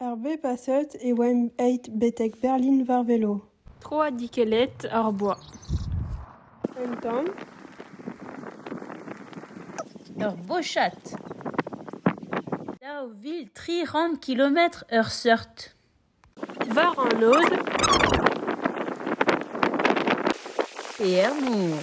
Er bep a seurt e oamp aet betek Berlin war velo. Troadikellet hor boa. Un tamm. Ur bochad. Daou vil tri c'hant kilometr ur seurt. War an lod. Pear mor.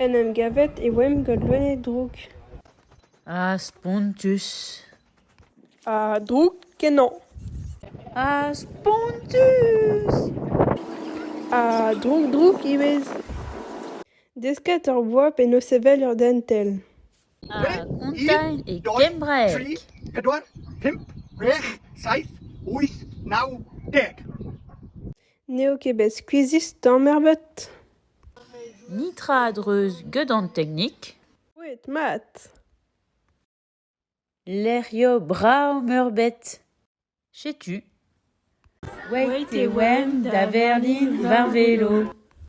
En em gavet e oamp gant loened drouk. Ha spontus. Ha drouk kenañ. Ha spontus. Ha drouk-drouk ivez. Desket hor boa penaos sevel ur dentell. ar gumun e kembraeg. N'eo ket bet skuizhus tamm ebet. Netra a-dreuz get an teknik. Boued mat. Lec'hioù brav-meurbet. Setu. Wait e oamp da Berlin war velo.